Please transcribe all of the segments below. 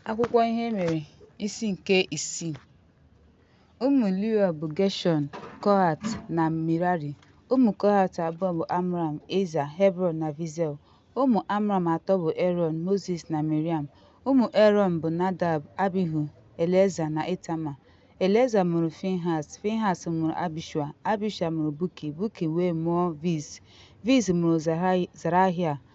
Akwụkwọ ihe mere isi nke isii ụmụ Leo bụ Geshọn, Kohat na Mirari. Ụmụ Kohat abụọ bụ Amram, Eza, Hebron na Vizel. Ụmụ Amram atọ bụ Erọn, Mozis na Miriam. Ụmụ Erọn bụ Nadab, Abihu, Eleza na Itama. Eleza mụrụ Finhas, Finhas mụrụ Abishua, Abishua mụrụ Buki, Buki wee mụọ Viz. Viz mụrụ Zarahia,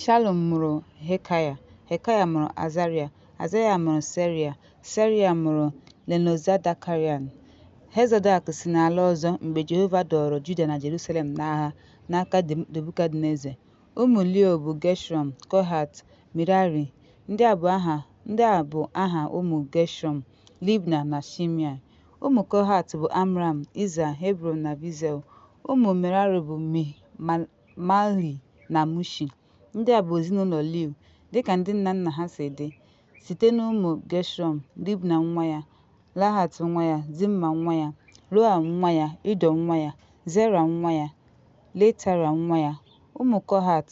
Shalum mụrụ Hekaya, Hekaya mụrụ Azarịa, Azarịa mụrụ Serịa, Serịa mụrụ Lenozadakarịan. Hezodak si n'ala ọzọ mgbe Jehova dọọrọ Juda na Jerusalem n'agha n'aka Nebukadneza. Ụmụ Leo bụ Geshọm, Kohat, Mirari. Ndị a bụ aha ụmụ Geshọm, Libna na Shimei. Ụmụ Kohat bụ Amram, Iza, Hebron na Vizel. Ụmụ Merari bụ Malhi na Mushi. Ndị a bụ ezinụlọ Liu, dịka ndị nna nna ha si dị, site n'ụmụ Geshọm, Libna nwa ya, Lahat nwa ya, Zimma nwa ya, Roa nwa ya, Ido nwa ya, Zera nwa ya, Letara nwa ya. Ụmụ Kohat,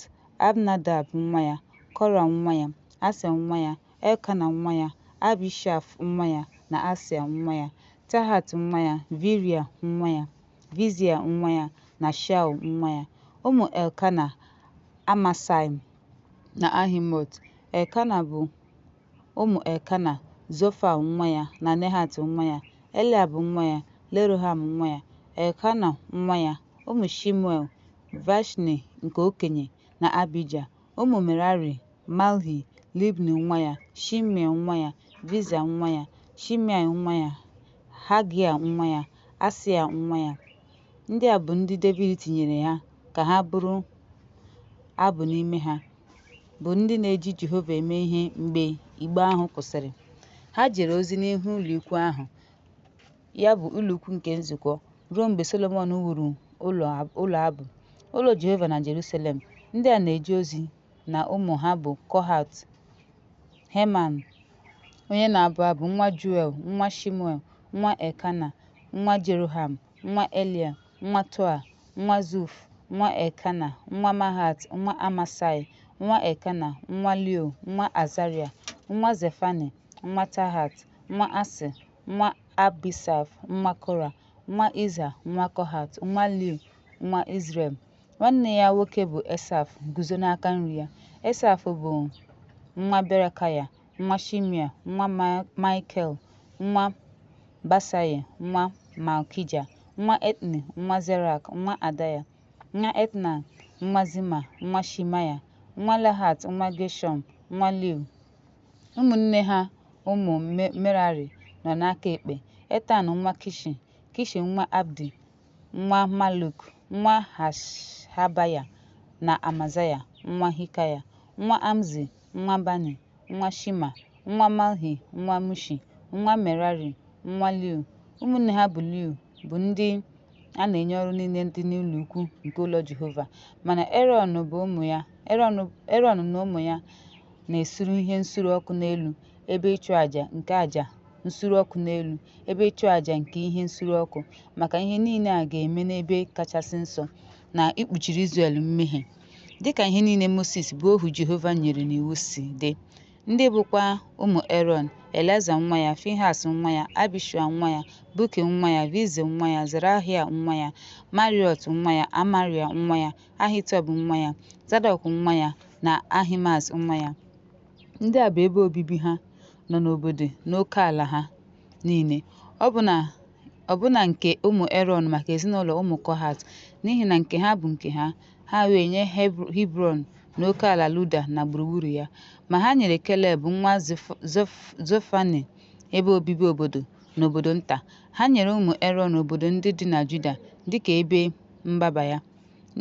Abnadab nwa ya, Kora nwa ya, Asia nwa ya, Elkana nwa ya, Abishaf nwa ya, na Asia nwa ya, Tahat nwa ya, Viria nwa ya. Vizia nwa ya, na Shaul nwa ya. Ụmụ Elkana, Amasai na Ahimot. Elkana bụ ụmụ Elkana, Zofa nwa ya, na Nehat nwa ya. Eliab nwa ya, Leroham nwa ya, Elkana nwa ya. Ụmụ Shimuel, Vashni nke okenye, na Abija. Ụmụ Merari, Malhi, Libni nwa ya, Shimei nwa ya, Viza nwa ya, Shimei nwa ya, Hagia nwa ya, Asia nwa ya. Ndị a bụ ndị Devid tinyere ha ka ha bụrụ abụ n'ime ha, bụ ndị na-eji Jehova eme ihe mgbe igbe ahụ kwụsịrị. Ha jere ozi n'ihu ụlọikwuu ahụ. ya bụ ụlọikwuu nke nzukọ, ruo mgbe Solomọn wuru ụlọ abụ. Ụlọ Jehova na Jerusalem. Ndị a na-eje ozi na ụmụ ha bụ Kohat, Heman, onye na-abụ abụ, nwa Juel, nwa Shimuel, nwa Elkana, nwa Jeroham, nwa Elia, nwa Toa, nwa Zuf, nwa Elkana, nwa Mahat, nwa Amasai, nwa Elkana, nwa Leo, nwa Azaria, nwa Zefani, nwa Tahat, nwa Asị, nwa Abisaf, nwa Kora, nwa Iza, nwa Kohat, nwa Liu, nwa Izrel. Nwanne ya nwoke bụ Esaf guzo n'aka nri ya. Esaf bụ nwa Berekaya, nwa Shimia, nwa Maikel, nwa Basaye, nwa Malkija, nwa Etni, nwa Zerak, nwa Adaya, nwa Etna, nwa Zima, nwa Shimaya, nwa Lahat, nwa Geshọm, nwa Liu. Ụmụnne ha ụmụ Merari nọ n'aka ekpe, Etan nwa Kishi, Kishi nwa Abdi, nwa Maluk, nwa Hashabaya, na Amazaya nwa Hikaya, nwa Amzi, nwa Bani, nwa Shima, nwa Malhi, nwa Mushi, nwa Merari, nwa Liu. Ụmụnne ha bụ Liu bụ ndị a na-enye ọrụ niile dị n'ụlọ ukwu nke ụlọ Jehova, mana Erọn bụ ụmụ ya Erọn na ụmụ ya na-esuru ihe nsure ọkụ n'elu ebe ịchụ aja nke aja nsure ọkụ n'elu ebe ịchụ aja nke ihe nsure ọkụ maka ihe niile a ga-eme n'ebe kachasị nsọ na ikpuchiri Izrel mmehie dịka ihe niile Mosis bụ ohu Jehova nyere n'iwu si dị ndị bụkwa ụmụ Erọn Eleza nwa ya Finhas nwa ya Abishua nwa ya Buki nwa ya Vizi nwa ya Zerahia nwa ya Mariot nwa ya Amaria nwa ya Ahitub nwa ya, Zadọk nwa ya, na Ahimaaz nwa ya. Ndị a bụ ebe obibi ha nọ n'obodo n'oke ala ha niile, ọbụna ọbụna nke ụmụ Erọn maka ezinụlọ ụmụ Kohat, n'ihi na nke ha bụ nke ha. Ha wee nye Hebr- Hibrọn na oke ala Luda na gburugburu ya. Ma ha nyere Keleb nwa Zef- Zef- Zefani ebe obibi obodo na obodo nta. Ha nyere ụmụ Erọn obodo ndị dị na Juda dịka ebe mgbaba ya.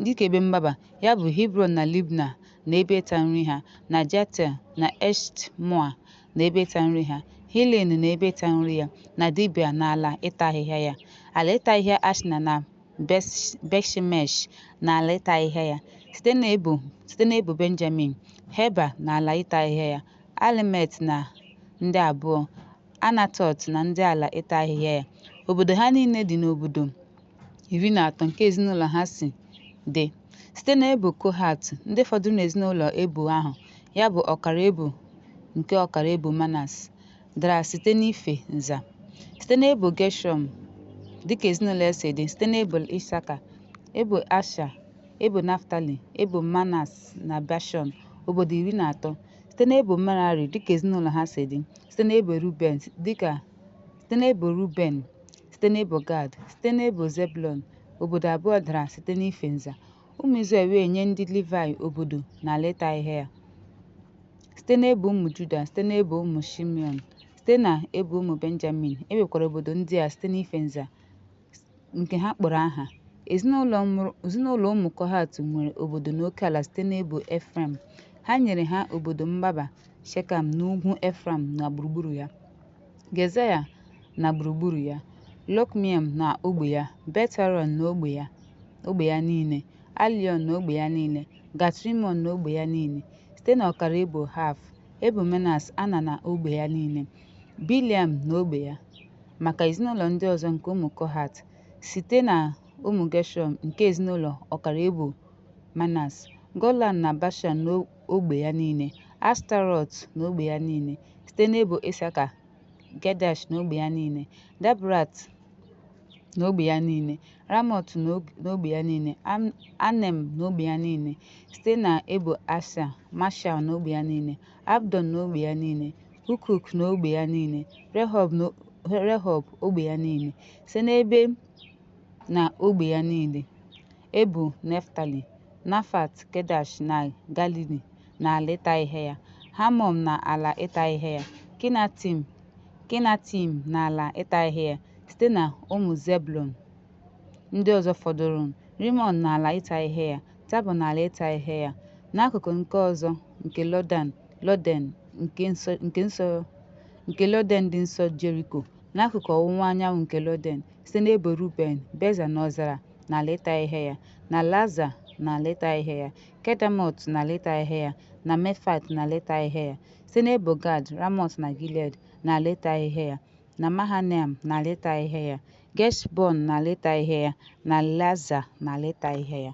Dịka ebe mgbaba ya bụ Hebrọn na Libna na ebe ịta nri ha, na Jatel na Eshtmoa na ebe ịta nri ha, Hilen na ebe ịta nri ya, na Dibia na ala ịta ahịhịa ya, ala ịta ahịhịa Ashna na Betshemesh na ala ịta ahịhịa ya, site n'ebo site n'ebo Benjamin, Heba na ala ịta ahịhịa ya, Alemet na ndị abụọ, Anatọt na ndị ala ịta ahịhịa ya. Obodo ha niile dị n'obodo iri na atọ nke ezinụlọ ha si dị. Site n'ebo Kohat, ndị fọdụrụ n'ezinụlọ ebo ahụ, ya bụ ọkara ebo nke ọkara ebo Manas, dara site n'ife nza. Site n'ebo Geshọm, dịka ezinụlọ si dị, site n'ebo Isaka, ebo Asha, ebo Naftali, ebo Manas na Bashọn, obodo iri na atọ. site n'ebo Merari dịka ezinụlọ ha si dị, site n'ebo Ruben, site n'ebo Ruben, site n'ebo Gad, site n'ebo Zebulọn, obodo abụọ dara site n'ife nza. Ụmụ Izrel wee nye ndị Livayị obodo na ala ịta ahịhịa ya. Site n'ebo ụmụ Juda, site n'ebo ụmụ Shimeọn, site na ebo ụmụ Benjamin, e nwekwara obodo ndị a site n'ife nza. nke ha kpọrọ aha. Ezinụlọ ụmụ Kohat nwere obodo n'okeala site n'ebo Efraim. Ha nyere ha obodo mgbaba Shekam n'ugwu Efraim na gburugburu ya, Gezaya na gburugburu ya, Lokmiam na ogbe ya, Bet-Horon na ogbe ya niile, Aliọn na ogbe ya niile, Gat-Rimọn na ogbe ya niile. Site n'ọkara ebo Haf, ebo Manas, Ana na ogbe ya niile, Biliam na ogbe ya. maka ezinụlọ ndị ọzọ nke ụmụ Kohat, site na ụmụ Geshọm nke ezinụlọ ọkara ebo Manas, Golan na Bashan na ogbe ya niile, Ashtarọt na ogbe ya niile, site n'ebo Isaka, Gedash na ogbe ya niile, Dabrat na ogbe ya niile, Ramọt na ogbe ya niile, Anem na ogbe ya niile, site na ebo Asha, Mashal na ogbe ya niile, Abdon na ogbe ya niile, Hukuk na ogbe ya niile, Rehob na ogbe ya niile, site n'ebe na ogbe ya niile, Ebo Neftali, Nafat, Kedash na Galili na ala ịta ihe ya, Hamọn na ala ịta ihe ya, Kinatim na ala ịta ihe ya, site na ụmụ Zebulun ndị ọzọ fọdụrụ, Rimọn na ala ịta ihe ya, Tabọ na ala ịta ihe ya n'akụkụ nke ọzọ nke Lọden dị nso Jeriko n'akụkụ ọwụwa anyanwụ nke Lọden site n'ebo Ruben Beza na ọzara na ala ịta ihe ya na Laza na ala ịta ihe ya Kedemot na ala ịta ihe ya na Mefat na ala ịta ihe ya site n'ebo Gad Ramọt na Gilead na ala ịta ihe ya na Mahanaim na ala ịta ihe ya Geshbon na ala ịta ihe ya, na Laza na ala ịta ihe ya.